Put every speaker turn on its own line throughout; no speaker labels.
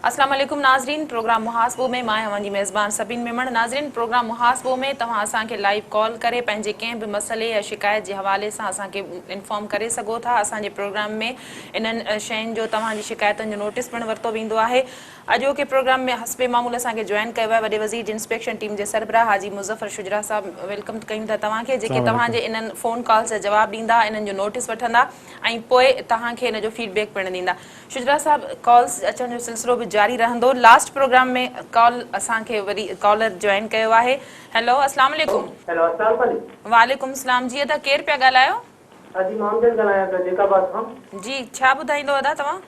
السلام عليڪم ناظرين پروگرام محاسبو ۾ مان اوهان جي ميزبان سبين ميمڻ ناظرين پروگرام محاسبو ۾ توهان اسان کي لائيو ڪال ڪري پنهنجي ڪنهن به مسئلي يا شڪايت جي حوالي سان اسان کي انفارم ڪري سگهو ٿا اسان جي پروگرام ۾ انهن شين جو توهان جي شڪايتن جو نوٽيس پڻ ورتو ويندو آهي اڄوڪي پروگرام ۾ حسب معمول اسان کي جوائن ڪيو آهي وڏي وزير جي انسپيڪشن ٽيم جي سربراهه حاجي مظفر شجراع صاحب ويلڪم ڪيون ٿا توهان کي جيڪي توهان جي انهن فون ڪالز جا جواب ڏيندا انهن جو نوٽس وٺندا ۽ پوء توهان کي ان جو فيڊ بيڪ پڻ ڏيندا شجراع صاحب ڪالز اچڻ جو سلسلو به جاري رهندو لاسٽ پروگرام ۾ ڪال اسان کي وري ڪالر جوائن ڪيو آهي هيلو اسلام عليڪم هيلو اسلام
عليڪم وعليڪم اسلام جي ادا
ڪير پيا ڳالهايو. ادا جي مان امجد
ڳالهايان پيو جيڪاباد کان. جي ڇا ٻڌائيندو
ادا توهان.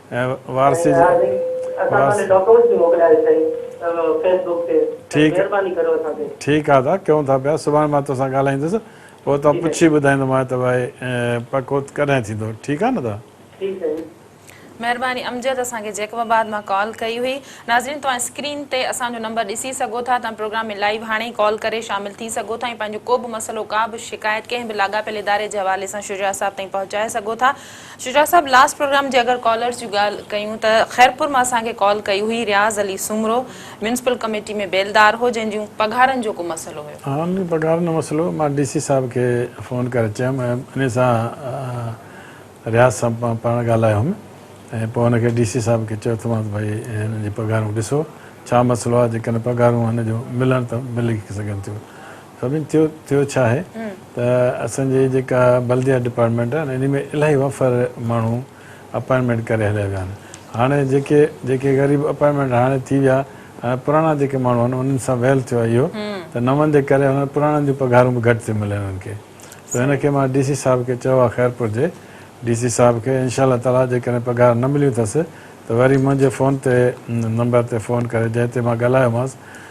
۽ وارثي جي وارثي اسان سان ڏي ڊاڪومينٽس به موڪلياري سائين فيس بوڪ تي سائين مھرباني ڪريو اسان تي. ٺيڪ آ دا ڪيون ٿا پيا سڀاڻي مان توسان ڳالھائيندس پوء توھان پڇي ٻڌائيندومانء ته بھائي پڪو ڪڏھن ٿيندو ٺيڪ آ نه دا. ٺيڪ سائين.
مھرباني امجد اسان کي جيڪب آباد مان ڪال ڪئي هئي ناظرين توهان اسڪرين تي اسان جو نمبر ڏسي سگهو ٿا توهان پروگرام ۾ لائيو هاڻي ئي ڪال ڪري شامل ٿي سگهو ٿا ۽ پنهنجو ڪو به مسئلو ڪا به شڪايت ڪنهن به لاڳاپيل اداري جي حوالي سان شجاع صاحب تائين پهچائي سگهو ٿا شجاع صاحب لاس پروگرام جي اگر ڪالرز جي ڳالهه ڪيون ته خيرپور مان اسان کي ڪال ڪئي هئي رياض علي سومرو ميونسپل ڪميٽي ۾ بيلدار هو جنهن جون پگهارن جو ڪو مسئلو هيو. ها ان جون پگهارن جو
مسئلو هو مان ڊي سي صاحب کي فون ڪري چيم ۽ انهي سان رياض صاحب مان پاڻ ڳالهايو هوم ۽ پوء ان کي ڊي سي صاحب کي چيو ته مانس ڀائي هنن جي پگهارون ڏسو ڇا مسئلو آهي جيڪڏهن پگهارون هن جون ملن ته ملي سگهن ٿيون سڀني ٿيو ٿيو ڇا آهي ته اسان جي جيڪا بلديات ڊپارٽمينٽ آهي انهي ۾ الاهي وفر ماڻهو اپائنٽمينٽ ڪري هليا ويا آهن هاڻي جيڪي جيڪي غريب اپائنٽمينٽ هاڻي ٿي ويا هاڻي پراڻا جيڪي ماڻهو آهن انهن سان ويل ٿيو آهي اهو ته نون جي ڪري هن پراڻن جون پگهارون به گهٽ ٿيون ملن انهن کي ته هن کي مان ڊي سي صاحب کي چيو آهي خيرپور جي ڊي سي صاحب کي انشاء الله تعالي جيڪڏهن پگهار نه مليون اٿس ته وري منهنجي فون تي نمبر تي فون ڪري جنهن تي مان ڳالهايو مانس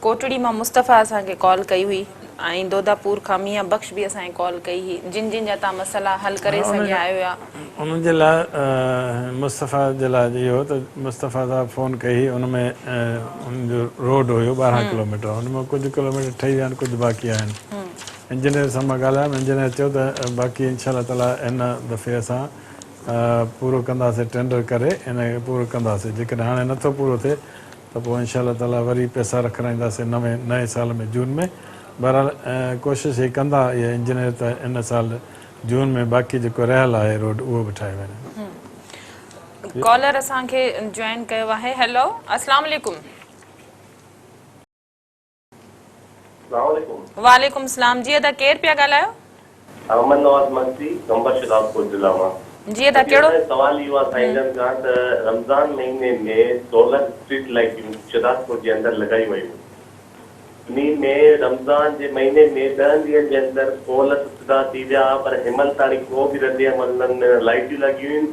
ڪوٽڙي مان مصطفيٰ اسان کي ڪال ڪئي هئي ۽ دوداپور کان ميان بخش به اسان کي ڪال ڪئي هئي جن جن جا تان مسئلا حل ڪري سگهيا آهيو يا. ان جي لاء
مصطفيٰ جي لاء اهو هو ته مصطفيٰ صاحب فون ڪئي هئي ان ۾ ان جو روڊ هيو ٻارهن ڪلوميٽر ان مان ڪجهه ڪلوميٽر ٺهي ويا آهن ڪجهه باقي آهن انجنيئر سان مان ڳالهايم انجنيئر چيو ته باقي ان شاء الله تعالٰي هن دفعي اسان پورو ڪنداسين ٽينڊر ڪري ان کي پورو ڪنداسين جيڪڏهن هاڻي نٿو پورو ٿئي ته پوء انشاء الله تعاليٰ وري پئسا رکرائينداسين نوين نئين سال ۾ جون ۾ بهرحال ڪوشش هي ڪندا اهي انجنيئر ته ان سال جون ۾ باقي جيڪو رهيل آهي روڊ اهو به ٺاهي وڃن. هڪ ڪالر اسان
کي جوائن ڪيو آهي هيلو اسلام عليڪم. سلام عليڪم. وعليڪم السلام جي ادا ڪير پيا ڳالهايو. احمد نواز
مگسي قمبر شهدادپور ضلع مان. جي ادا ڪهڙو. اسان جو
سوال اهو آ سائين
جن کان ته رمضان مهيني ۾ سولر اسٽريٽ لائٽيون شهدادپور جي اندر لڳايون ويون انهي ۾ رمضان جي مهيني ۾ ڏهن ڏينهن جي اندر پول سڌا ٿي ويا پر هيمل تاڻي ڪو به رد عمل نه ملڻ لائٽيون لڳيون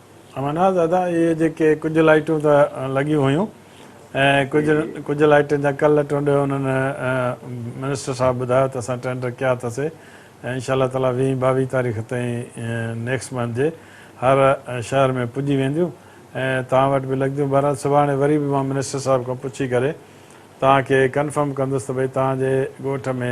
امرناٿ دادا اهي جيڪي ڪجهه لائيٽون ته لڳيون هيون ۽ ڪجهه ڪجهه لائيٽن جا ڪل ٽنڊ انهن منسٽر صاحب ٻڌايو ته اسان ٽينڊر ڪيا اٿس ۽ انشاء الله تعالي ويهين ٻاويهين تاريخ تائين نيڪسٽ منٿ جي هر شهر ۾ پڄي وينديون ۽ توهان وٽ به لڳنديون بهرحال سڀاڻي وري به مان منسٽر صاحب کان پڇي ڪري توهان کي ڪنفرم ڪندس ته ڀئي توهان جي ڳوٺ ۾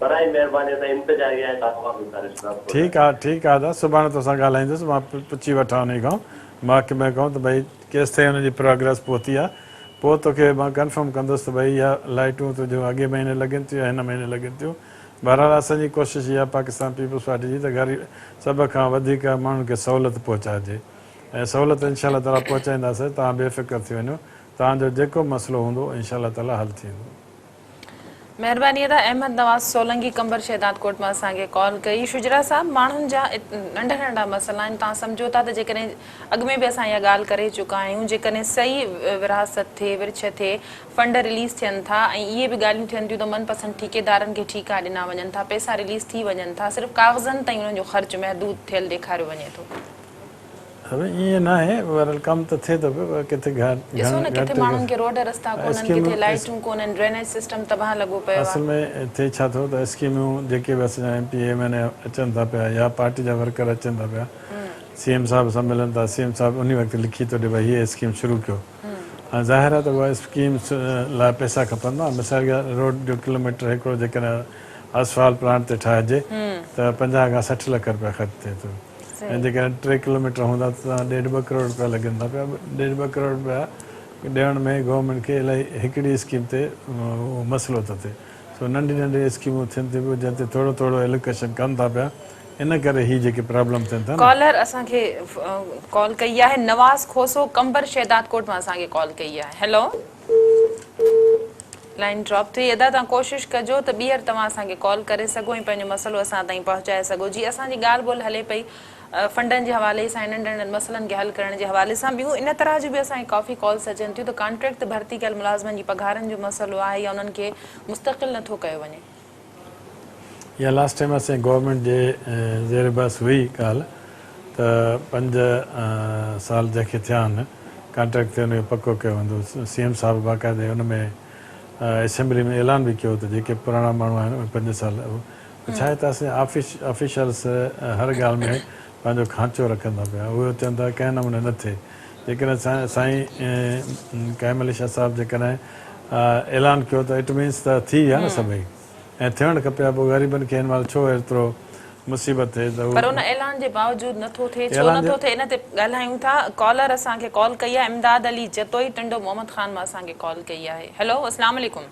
براهه مهرباني
اسان انتظاري آهيان ڪاڪو مان گذارش ڪران ٿو. ٺيڪ آ ٺيڪ آ دا سڀاڻي توسان ڳالهائيندس مان پڇي وٺان انهي کان محڪمي کان ته ڀئي ڪيستائين ان جي پراگريس پهتي آ پوء توکي مان ڪنفرم ڪندس ته ڀئي اها لائيٽون تنهنجون اڳئين مهيني لڳين ٿيون يا هن مهيني لڳين ٿيون بهرحال اسان جي ڪوشش اها آ پاڪستان پيپلز پارٽي جي ته غريب سڀ کان وڌيڪ ماڻهن کي سهولت پهچائجي ۽ سهولت انشاء الله تعالي پهچائينداسين توهان بي فڪر ٿي وڃو توهان جو جيڪو به مسئلو هوندو انشاء الله تعالي حل ٿيندو.
مهرباني ادا احمد نواز سولنگي قمبر شهداد ڪوٽ مان اسان کي ڪال ڪئي شجرا صاحب ماڻهن جا ننڍا ننڍا مسئلا آهن توهان سمجهو ٿا ته جيڪڏهن اڳ ۾ به اسان اها ڳالهه ڪري چڪا آهيون جيڪڏهن صحيح ورهاست ٿئي ورڇ ٿئي فنڊ رليز ٿين ٿا ۽ اهي به ڳالهيون ٿين ٿيون ته من پسند ٺيڪيدارن کي ٺيڪا ڏنا وڃن ٿا پئسا رليز ٿي وڃن ٿا صرف ڪاغذن تائين انهن جو خرچ محدود ٿيل ڏيکاريو وڃي ٿو
ايئن ناهي بهرحال ڪم ته ٿئي ٿو پيو پر ڪٿي گهٽ ڏسو نه ڪٿي
ماڻهن کي روڊ رستا ڪونهن ڪٿي لائيٽون ڪونهن ڊرينيج سسٽم تباهه لڳو پيو آهي. اصل ۾ ٿئي ڇا
ٿو ته اسڪيميون جيڪي به اسان جا M P M N A اچن ٿا پيا يا پارٽي جا ورڪر اچن ٿا پيا سي ايم صاحب سان ملن ٿا سي ايم صاحب انهي وقت لکي ٿو ڏي ڀاء هيء اسڪيم شروع ڪيو هاڻي ظاهر آهي ته اها اسڪيم لاء پئسا کپندا مثال جي روڊ جو ڪلوميٽر هڪڙو جيڪڏهن اسفالٽ پلانٽ تي ٺاهجي ته پنجاهه کان سٺ لک رپيا خرچ ٿئي ٿو. ۽ جيڪڏهن ٽي ڪلوميٽر هوندا ته توهان ڏيڍ ٻه ڪروڙ رپيا لڳن ٿا پيا ڏيڍ ٻه ڪروڙ رپيا ڏيڻ ۾ گورنمينٽ کي الائي هڪڙي اسڪيم تي اهو مسئلو ٿو ٿئي سو ننڍي ننڍي اسڪيمون ٿين ٿيون پيون جنهن تي ٿورو ٿورو الوڪيشن ڪن ٿا پيا ان ڪري هي جيڪي پرابلم ٿين ٿا نه. ڪالر اسان کي
ڪال ڪئي آهي نواز کوسو قمبر شهدادڪوٽ مان اسان کي ڪال ڪئي آهي هيلو. لائين ڊراپ ٿئي ادا توهان ڪوشش ڪجو ته ٻيهر توهان اسان کي ڪال ڪري سگهو ۽ پنهنجو مسئلو اسان تائين پهچائي سگهو جي اسان جي ڳالهه ٻولهه هلي پئي فنڊن جي حوالي سان ننڍن ننڍن مسئلن کي حل ڪرڻ جي حوالي سان ٻيون ان طرح جون به اسان کي ڪافي ڪالس اچن ٿيون ته ڪانٽريڪٽ تي ڀرتي ڪيل ملازمن جي پگهارن جو مسئلو آهي يا انهن کي مستقل نٿو ڪيو وڃي
اها لاسٽ ٽائيم اسين گورنمينٽ جي زير بحث هئي ڳالهه ته پنج سال جنهن کي ٿيا آهن ڪانٽريڪٽ تي ان کي پڪو ڪيو ويندو سي ايم صاحب باقاعدي ان ۾ اسيمبلي ۾ اعلان به ڪيو ته جيڪي پراڻا ماڻهو آهن اهي پنج سال اهو ته ڇا هي ته اسين آفيشلس هر ڳالهه ۾ پنهنجو کانچو رکن ٿا پيا اهي اچن ٿا ڪنهن نموني نه ٿئي جيڪڏهن سائين ڪائم علي شاهه صاحب جيڪڏهن اعلان ڪيو ته اٽ مينس ته ٿي ويا نه سڀئي ۽ ٿيڻ کپي ها پوء غريبن کي هن مهل ڇو ايترو مصيبت ٿئي ته پر ان اعلان جي باوجود
نه ٿو ٿئي ڇو نه ٿو ٿئي ان تي ڳالهايون ٿا ڪالر اسان کي ڪال ڪئي آهي امداد علي جتوئي ٽنڊو محمد خان مان اسان کي ڪال ڪئي آهي هيلو اسلام عليڪم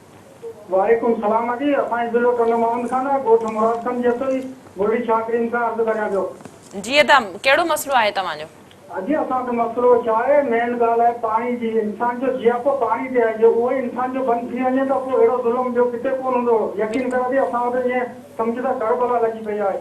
وعليڪم
السلام اڳي اسانجي ضلعو ٽنڊو محمد خان آ ڳوٺ مراد خان جي اڳتو ئي گولڙي شاھ ڪريم کان عرض ڪريان پيو. جي ادا
ڪهڙو مسئلو آهي توهان جو. اڳي اسان جو
مسئلو ڇا آهي مين ڳالھ آهي پاڻي جي انسان جو جياپو پاڻي تي آهي جي اهوئي انسان جو بند ٿي وڃي ته پوء اهڙو ظلم ٻيو ڪٿي ڪون هوندو يقين ڪر اڳي اسان وٽ ائين سمجھ ته ڪربلا لڳي پئي آهي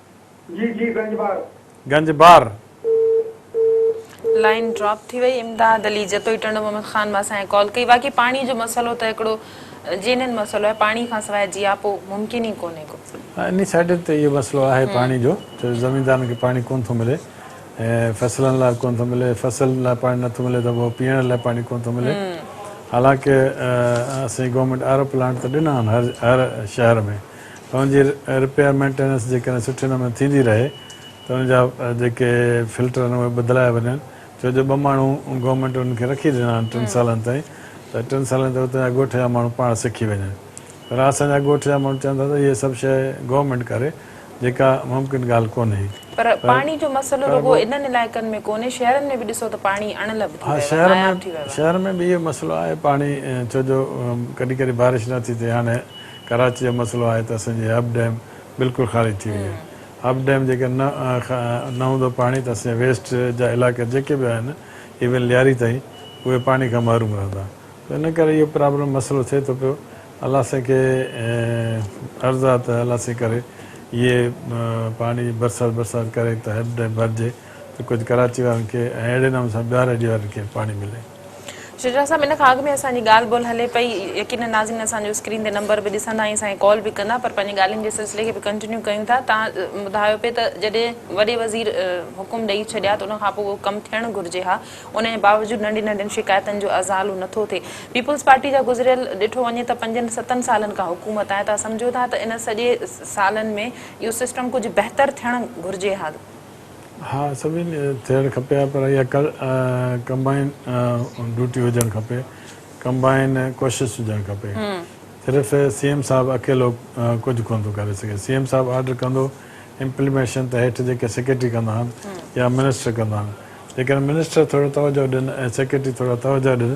جي جي گنج بار. گنج بار.
لائين ڊراپ ٿي وئي امداد علي جتوئي ٽنڊو محمد خان مان اسان کي ڪال ڪئي واقعي پاڻي جو مسئلو ته هڪڙو جينين مسئلو آهي پاڻي کان سواء جياپو ممڪن ئي ڪونهي ڪو. ها انهي سائيڊن تي
اهو مسئلو آهي پاڻي جو ڇو زميندارن کي پاڻي ڪونه ٿو ملي فصلن لاء ڪونه ٿو ملي فصل لاء پاڻي نه ٿو ملي ته پوء پيئڻ لاء پاڻي ڪونه ٿو ملي حالانڪه اسين گورنمينٽ آر او پلانٽ ته ڏنا آهن هر شهر ۾ فون جي رپيئر مينٽيننس جيڪڏهن سٺي نموني ٿيندي رهي ته ان جا جيڪي فلٽر آهن اهي بدلايا وڃن ڇو جو ٻه ماڻهو گورنمينٽ انهن کي رکي ڏنا آهن ٽن سالن تائين ته ٽن سالن تائين اتان جا ڳوٺ جا ماڻهو پاڻ سکي وڃن پر اسان جا ڳوٺ جا ماڻهو چون ٿا ته اهي سڀ شيء گورنمينٽ ڪري جيڪا ممڪن ڳالهه ڪونهي پر پاڻي جو مسئلو رڳو
انهن علائقن ۾ ڪونهي شهرن ۾ به ڏسو ته پاڻي اڻ لڀ ٿي ويو آهي ناياب ٿي ويو آهي.
شهرن ۾ به اهو مسئلو آهي پاڻي ڇو جو ڪڏهن ڪڏهن بارش نه ٿي ٿئي هاڻي ڪراچي جو مسئلو آهي ته اسان جي هب ڊيم بلڪل خارج ٿي وئي آهي هب ڊيم جيڪر نه نه هوندو پاڻي ته اسان جا ويسٽ جا علائقا جيڪي به آهن ايون لياري تائين اهي پاڻي کان محروم رهندا ته ان ڪري اهو پرابلم مسئلو ٿئي ٿو پيو الله سائين کي عرض آهي ته الله سائين ڪري اهي پاڻي برسات برسات ڪري ته هب ڊيم ڀرجي ته ڪجهه ڪراچي وارن کي ۽ اهڙي نموني سان ٻيهار ايري وارن کي پاڻي ملي. شجاع صاحب
ان کان اڳ ۾ اسان جي ڳالهه ٻولهه هلي پئي يقينن ناظرين اسان جو اسڪرين تي نمبر به ڏسندا ۽ اسان کي ڪال به ڪندا پر پنهنجي ڳالهين جي سلسلي کي به ڪنٽينيو ڪيون ٿا تان ٻڌايو پئي ته جڏهن وڏي وزير حڪم ڏئي ڇڏيا ته ان کان پوء ڪم ٿيڻ گهرجي ها ان جي باوجود ننڍين ننڍين شڪايتن جو ازالو نه ٿو ٿئي پيپلز پارٽي جا گذريل ڏٺو وڃي ته پنجن ستن سالن کان حڪومت آهي تان سمجهو ٿا ته ان سڄي سالن ۾ اهو سسٽم ڪجهه بهتر ٿيڻ گهرجي ها. ها
سڀني ٿيڻ کپي ها پر اها ڪمبائن ڊيوٽي هجڻ کپي ڪمبائن ڪوشش هجڻ کپي صرف سي ايم صاحب اڪيلو ڪجهه ڪونه ٿو ڪري سگهي سي ايم صاحب آرڊر ڪندو امپلميشن ته هيٺ جيڪي سيڪريٽري ڪندا آهن يا منسٽر ڪندا آهن جيڪڏهن منسٽر ٿورو توجهه ڏين ۽ سيڪريٽري ٿورا توجهه ڏين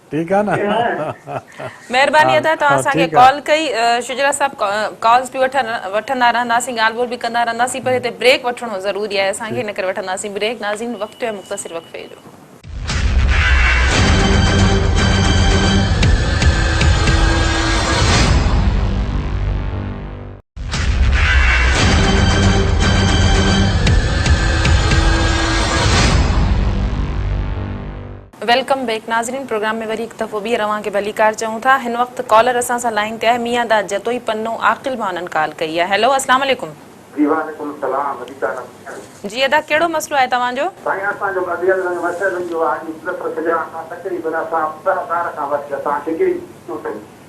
ٺيڪ آ نه مهرباني ادا
توهان اسان کي ڪال ڪئي
شجرا
صاحب ڪالز به وٺندا رهنداسين ڳالهه ٻولهه به ڪندا رهنداسين پر هتي بريڪ وٺڻو ضروري آهي اسان کي ان ڪري وٺنداسين بريڪ ناظرين وقت ٿيو آهي مختصر وقفي جو ويلڪم بيڪ ناظرين پروگرام ۾ وري هڪ دفعو ٻيهر اوهان کي ڀليڪار چئون ٿا هن وقت ڪالر اسان سان لائين تي آهي ميان داد جتوئي پنو عاقل ڀانن ڪال ڪئي آهي هيلو اسلام عليڪم. جي وعليڪم
السلام مليڪا رب ٿيڻ. جي
ادا ڪهڙو مسئلو آهي توهان جو. سائين اسان جو مديل
رنگ مسئلو اهو آهي جو پروفيسر شجاع خان تقريبن اسان ٻه هزار کان وٺي اسان ڊگري ڪيون اٿن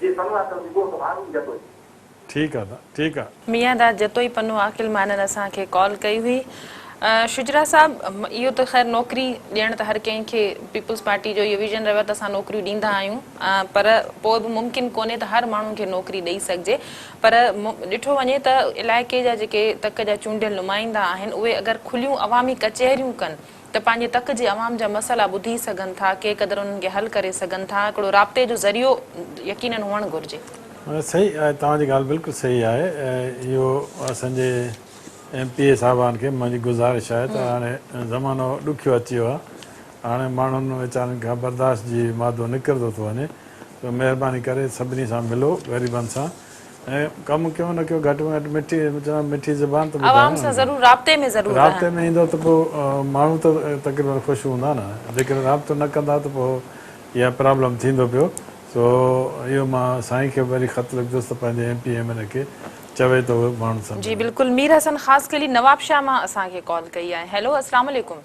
جي پنو آ ته اگهو
سڀاڻي ئي جتوئي. ٺيڪ آ دا ٺيڪ آ. ميان دا جتوئي پنو
عاقل مانن اسان کي ڪال ڪئي هئي. شجرا صاحب اهو ته خير نوڪري ڏيڻ ته هر ڪنهن کي پيپلز پارٽي جو اهو ويزن رهيو آ ته اسان نوڪريون ڏيندا آهيون پر پوء به ممڪن ڪونهي ته هر ماڻهو کي نوڪري ڏئي سگهجي پر ڏٺو وڃي ته علائقي جا جيڪي تڪ جا چونڊيل نمائندا آهن اهي اگر کليون عوامي ڪچهريون ڪن ته پنهنجي تڪ جي عوام جا مسئلا ٻڌي سگهن ٿا، ڪي قدر انهن کي حل ڪري سگهن ٿا، هڪڙو رابطي جو ذريعو يقينن هئڻ گهرجي. صحيح آهي
توهان جي ڳالهه بلڪل صحيح آهي اهو اسان جي ايم پي اي صاحبان کي منهنجي گذارش آهي ته هاڻي زمانو ڏکيو اچي ويو آهي هاڻي ماڻهن ويچارن کان برداشت جي مادو نڪرندو ٿو وڃي ته مهرباني ڪري سڀني سان ملو غريبن سان ۽ ڪم ڪيو نه ڪيو گهٽ ۾ گهٽ مٺي چوان مٺي زبان ته ٻڌايو عوام سان ضرور رابطي ۾ ضرور رهن. رابطي ۾ ايندو ته پوء ماڻهو ته تقريبن خوش هوندا نه جيڪڏهن رابطو نه ڪندا ته پوء اها پرابلم ٿيندو پيو سو اهو مان سائين کي به وري خط لکندس ته پنهنجي M P M N A کي چوي ته اهي ماڻهن سان جي ملن. بلڪل
مير حسن خاصخيلي نوابشاهه مان اسان کي ڪال ڪئي آهي هيلو اسلام عليڪم.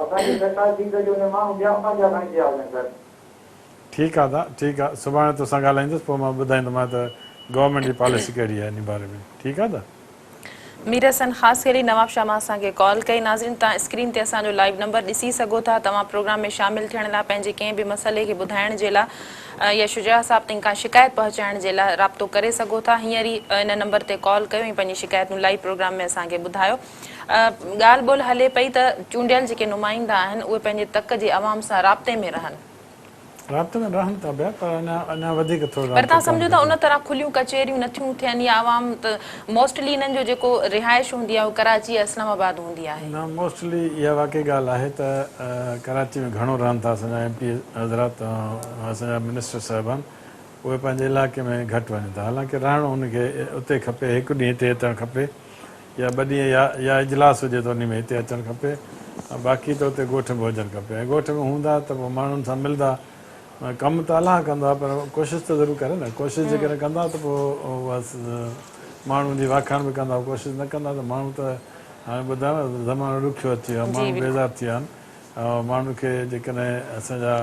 اسان جي زڪوات ڏي ته جو نه ماڻهو ٻيا
پنهنجا کڻي پيا وڃن ته. ٺيڪ آ دا ٺيڪ آ سڀاڻي توسان ڳالهائيندس پوء مان ٻڌائيندومانء ته گورنمينٽ جي پاليسي ڪهڙي آهي انهي باري ۾ ٺيڪ آ دا. مير
حسن خاصخيلي نوابشاهه مان اسان کي ڪال ڪئي. ناظرين توهان اسڪرين تي اسان جو لائيو نمبر ڏسي سگهو ٿا توهان پروگرام ۾ شامل ٿيڻ لا پنهنجي ڪنهن به مسئلي کي ٻڌائڻ جي لا يا شجاع صاحب تائين ڪا شڪايت پهچائڻ جي لا رابطو ڪري سگهو ٿا هينئر ئي ان نمبر تي ڪال ڪيو ۽ پنهنجي شڪايتون لائيو پروگرام ۾ اسان کي ٻڌايو. ڳالهه ٻولهه هلي پئي ته چونڊيل جيڪي نمائندا آهن اهي پنهنجي تڪ جي عوام سان رابطي ۾ رهن. رابطي ۾
رهن ٿا پيا پر اڃا وڌيڪ ٿورو رابطو ڪرڻ گهرجي. پر تهان سمجهو ٿا ان طرح
کليون ڪچهريون نه ٿيون ٿين يا عوام ته موسٽلي انهن جو جيڪو رهائش هوندي آهي اهو ڪراچي يا اسلام آباد هوندي آهي. نه موسٽلي اها
واقعي ڳالهه آهي ته ڪراچي ۾ گهڻو رهن ٿا اسان جا ايم پي حضرات اسان جا منسٽر صاحبان اهي پنهنجي علائقي ۾ گهٽ وڃن ٿا حالانڪه رهڻ ان کي اتي کپي هڪ ڏينهن هتي هتڻ کپي يا ٻه ڏينهن يا يا اجلاس هجي ته انهي ۾ هتي اچڻ کپي باقي ته اتي ڳوٺ ۾ هجڻ کپي ۽ ڳوٺ ۾ هوندا ته پوء ماڻهن سان ملدا ڪم ته الله ڪندا پر ڪوشش ته ضرور ڪري نه ڪوشش جيڪڏهن ڪندا ته پوء بس ماڻهن جي واکاڻ به ڪندا ڪوشش نه ڪندا ته ماڻهو ته هاڻي ٻڌايو نه زمانو ڏکيو اچي ويو آهي ماڻهو بيزار ٿي ويا آهن ماڻهن کي جيڪڏهن اسان جا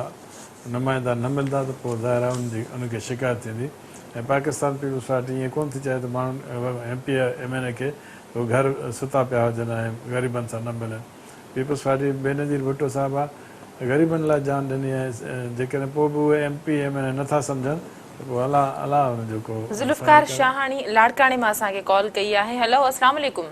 نمائندا نه ملندا ته پوء ظاهر آهي انهن کي شڪايت ٿيندي ۽ پاڪستان پيپلز پارٽي ائين ڪونه ٿي چاهي ته ماڻهن M P M N A کي هو گهر ستا پيا هجن ۽ غريبن سان نه ملن پيپلز پارٽي بينظير ڀٽو صاحب آ غريبن لاء جان ڏني ۽ جيڪڏهن پوء به اهي M P M N A نه ٿا سمجهن ته پوء الله الله انهن جو ڪو ذوالفقار شاهاڻي
لاڙڪاڻي مان اسان کي ڪال ڪئي آهي هلو اسلام عليڪم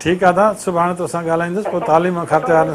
ٺيڪ آ
ڌا سڀاڻي توسان ڳالهائيندس پوء تعليم کاتي وارن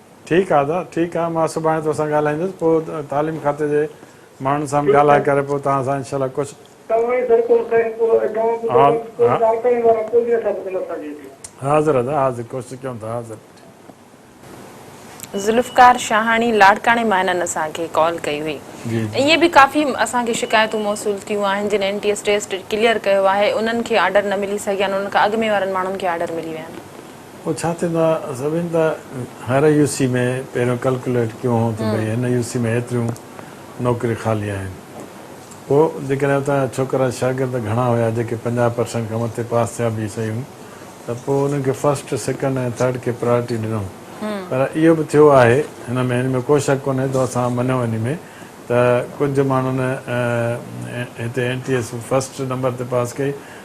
ٺيڪ آ ادا ٺيڪ آ مان سڀاڻي توسان ڳالهائيندس پوء تعليم کاتي جي ماڻهن سان به ڳالهائي ڪري پوء توهان سان انشاء الله ڪجهه توهان ئي سر ڪو سائين ڪو ايڊوانس ڏيو ها باقي ڪو ها ڪارڪڻي وارا ڪو نه اثر ڪندو اسان جي هتي. حاضر ادا حاضر ڪوشش ڪيون ٿا حاضر.
ذوالفقار شاهاڻي لاڙڪاڻي مان هنن اسان کي ڪال ڪئي هئي جي جي. ائين به ڪافي اسان کي شڪايتون موصول ٿيون آهن جن N T S test clear ڪيو آهي انهن کي آرڊر نه ملي سگهيا آهن انهن کان اڳ ۾ وارن ماڻهن کي آرڊر ملي ويا آهن. پوء ڇا
ٿيندا سڀين ته هر يو سي ۾ پهريون ڪلڪليٽ ڪيون هون ته ڀئي هن يو سي ۾ هيتريون نوڪري خالي آهن پوء جيڪڏهن اتان جا ڇوڪرا شاگرد گهڻا هيا جيڪي پنجاهه پرسينٽ کان مٿي پاس ٿيا به سهيون ته پوء انهن کي فرسٽ سيڪنڊ ۽ ٿرڊ کي پرايرٽي ڏنو پر اهو به ٿيو آهي هن ۾ ان ۾ ڪو شڪ ڪونهي ٿو اسان مڃيو انهي ۾ ته ڪجهه ماڻهن هتي N T S first number تي پاس ڪئي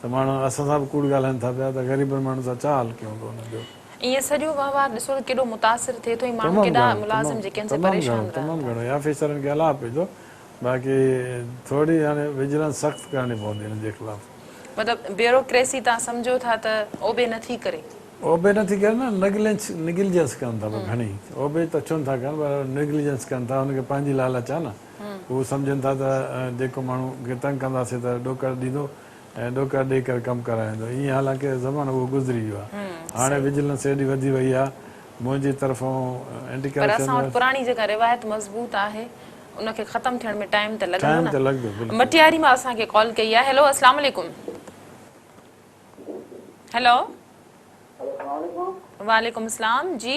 ته ماڻهو اسان سان به ڪوڙ ڳالهائين ٿا پيا ته غريبن ماڻهن سان ڇا حال ڪيون ٿو انهن جو. ائين سڄو
وهنوار ڏسو ته ڪيڏو متاثر ٿئي ٿو ۽ ماڻهو تمام ڪيڏا گهڻو ملازم تمام جيڪي ان سان تمام پريشان گهڻو رهن تمام ٿا. گهڻو آفيسرن
کي الاهه پئي ٿو باقي ٿوري هاڻي وجلنس سخت ڪرڻي پوندي انهن جي خلاف. مطلب
بيوروڪريسي تان سمجهو ٿا ته اوبي نه ٿي ڪري. اوبي نه ٿي ڪري
نه نگلينس نگلجنس ڪن ٿا پر گهڻي اوبي ته ڇو نه ٿا ڪن پر نگلجنس ڪن ٿا انهن کي پنهنجي لالچ آهي نه. هو سمجهن ٿا ته جيڪو ماڻهو کي تنگ ڪنداسين ته ڏوڪڙ ڏيندو ۽ ڏوڪڙ ڏئي ڪري ڪم ڪرائيندو. ايئن حالانڪ زمانو اهو گذري ويو آهي. هاڻي وجيلنس ايڏي وڌي وئي آهي منهنجي طرفون اينٽي ڪرپشن. پر اسان وٽ پراڻي جيڪا روايت
مضبوط آهي ان کي ختم ٿيڻ ۾ ٽائيم ته لڳندو نه. مٽياري مان اسان کي ڪال ڪئي آهي. هيلو اسلام عليڪم. هيلو. وعليڪم اسلام جي.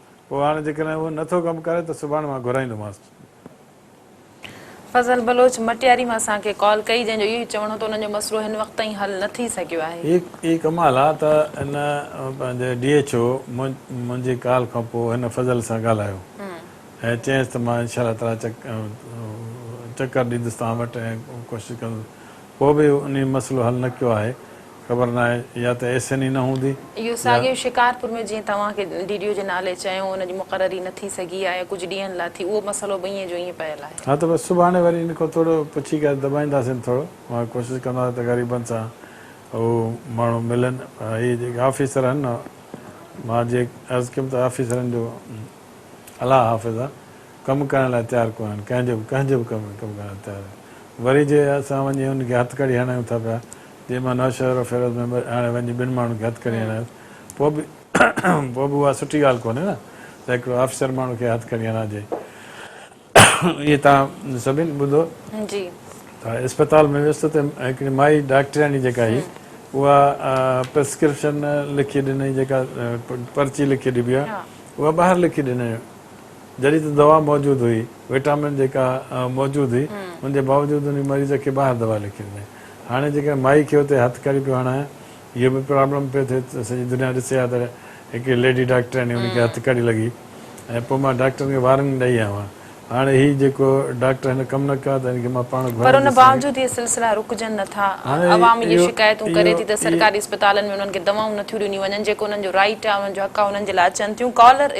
پوء هاڻي جيڪڏهن اهو نه ٿو ڪم ڪري ته سڀاڻي مان گهرائيندومانس.
فضل بلوچ مٽياري مان اسان کي ڪال ڪئي جنهن جو اهو ئي چوڻ هو ته انهن جو مسئلو هن وقت تائين حل نه ٿي سگهيو آهي. هي ڪمال آ
ته ان پنهنجي ڊي ايڇ او منهنجي ڪال کان پوء هن فضل سان ڳالهايو ۽ چيائينس ته مان انشاء الله تعالي چڪر ڏيندس توهان وٽ ۽ ڪوشش ڪندس ڪو به انهي مسئلو حل نه ڪيو آهي خبر ناهي يا ته ايسين ئي نه هوندي اهو يا. ساڳيو
شڪارپور ۾ جيئن توهان کي ڊي ڊي او جي نالي چيو ان جي مقرري نه ٿي سگهي آهي ڪجهه ڏينهن لاء ٿي اهو مسئلو به ائين جو ائين پيل آهي. ها ته بس سڀاڻي وري
ان کان ٿورو پڇي ڪري دٻائينداسين ٿورو مان ڪوشش ڪنداسين ته غريبن سان هو ماڻهو ملن پر هي جيڪي آفيسر آهن نه مان جي عرض ڪيم ته آفيسرن جو الله حافظ آهي. ڪم ڪرڻ لاء تيار ڪونهن، ڪنهن جي به ڪنهن جي به ڪم ۾ ڪم ڪرڻ لاء تيار آهن. وري جي اسان وڃي انهن کي هٿڪڙي هڻايون ٿا پيا، جي مان نوشهرو ۽ فيروز ۾ هاڻي وڃي ٻن ماڻهن کي هٿڪڙي هڻايس، پوء به پوء به اها سٺي ڳالهه ڪونهي نه ته هڪڙو آفيسر ماڻهو کي هٿڪڙي هڻائجي. اهي توهان سڀني ٻڌو
ته اسپتال
۾ ويس ته هڪڙي مائي ڊاڪٽرياڻي جيڪا هئي، اها پرسڪرپشن لکي ڏنائين، جيڪا پرچي لکي ڏبي آهي، اها ٻاهر لکي ڏنائين. جڏهن ته دوا موجود هئي، وٽامن جيڪا موجود هئي، ان جي باوجود انهي مريض کي ٻاهر دوا لکي ڏنائين. هاڻي جيڪڏهن مائي کي اتي هٿ ڪري پيو هڻايان، اهو به پرابلم پيو ٿئي ته سڄي دنيا ڏسي ها ته هڪڙي ليڊي ڊاڪٽرياڻي ان کي هٿ ڪري لڳي ۽ پوء مان ڊاڪٽرن کي وارننگ ڏئي آيو آهيان. هاڻي هي جيڪو ڊاڪٽر هن ڪم نه ڪيو آهي ته هن کي مان پاڻ گهرائينديس. پر ان باوجود اهي
سلسلا رڪجن نه ٿا. عوام اهي شڪايتون ڪري ٿي ته سرڪاري اسپتالن ۾ انهن کي دوائون نٿيون ڏنيون وڃن، جيڪو انهن جو رائيٽ آهي، انهن جو حق آهي، انهن جي لاء اچن ٿيون. ڪالر.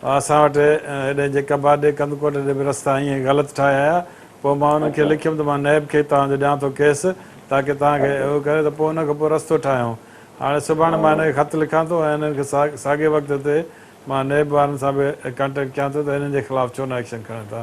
اسان وٽ هيڏانهن جي ڪباٽ ڏي ڪنڌڪوٽ ڏي به رستا ائين غلط ٺاهي آيا پوء مان انهن کي لکيم ته مان نيب کي توهان جو ڏيان ٿو ڪيس تاڪه توهان کي اهو ڪري ته پوء ان کان پوء رستو ٺاهيون هاڻي سڀاڻي مان هن کي خط لکان ٿو ۽ انهن کي ساڳئي وقت تي مان نيب وارن سان به ڪانٽيڪٽ ڪيان ٿو ته انهن جي خلاف ڇو نه ايڪشن کڻن ٿا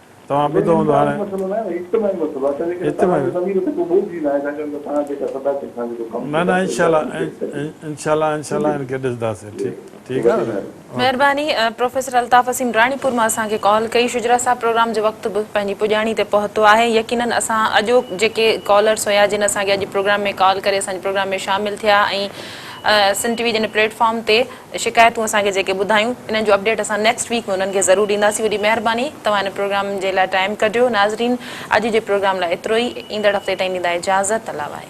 توهان ٻڌو هوندو هاڻي نه نه انشاء الله انشاء الله انشاء الله ان کي ڏسنداسين ٺيڪ ٺيڪ آهي نه مهرباني
پروفيسر الطاف اسين راڻيپور مان اسان کي ڪال ڪئي شجرا صاحب پروگرام جو وقت به پنهنجي پڄاڻي تي پهتو آهي يقينن اسان اڄوڪ جيڪي ڪالرس هيا جن اسان کي اڄ پروگرام ۾ ڪال ڪري اسان جي پروگرام ۾ شامل ٿيا ۽ سنڌ ٽي وي جي ان پليٽ فارم تي شڪايتون اسان کي جيڪي ٻڌايون انهن جو اپڊيٽ اسان نيڪسٽ ويڪ ۾ انهن کي ضرور ڏينداسين وڏي مهرباني توهان هن پروگرام جي لاء ٽائيم ڪڍيو ناظرين اڄ جي پروگرام لاء ايترو ئي ايندڙ هفتي تائين ڏيندا اجازت الله وائي.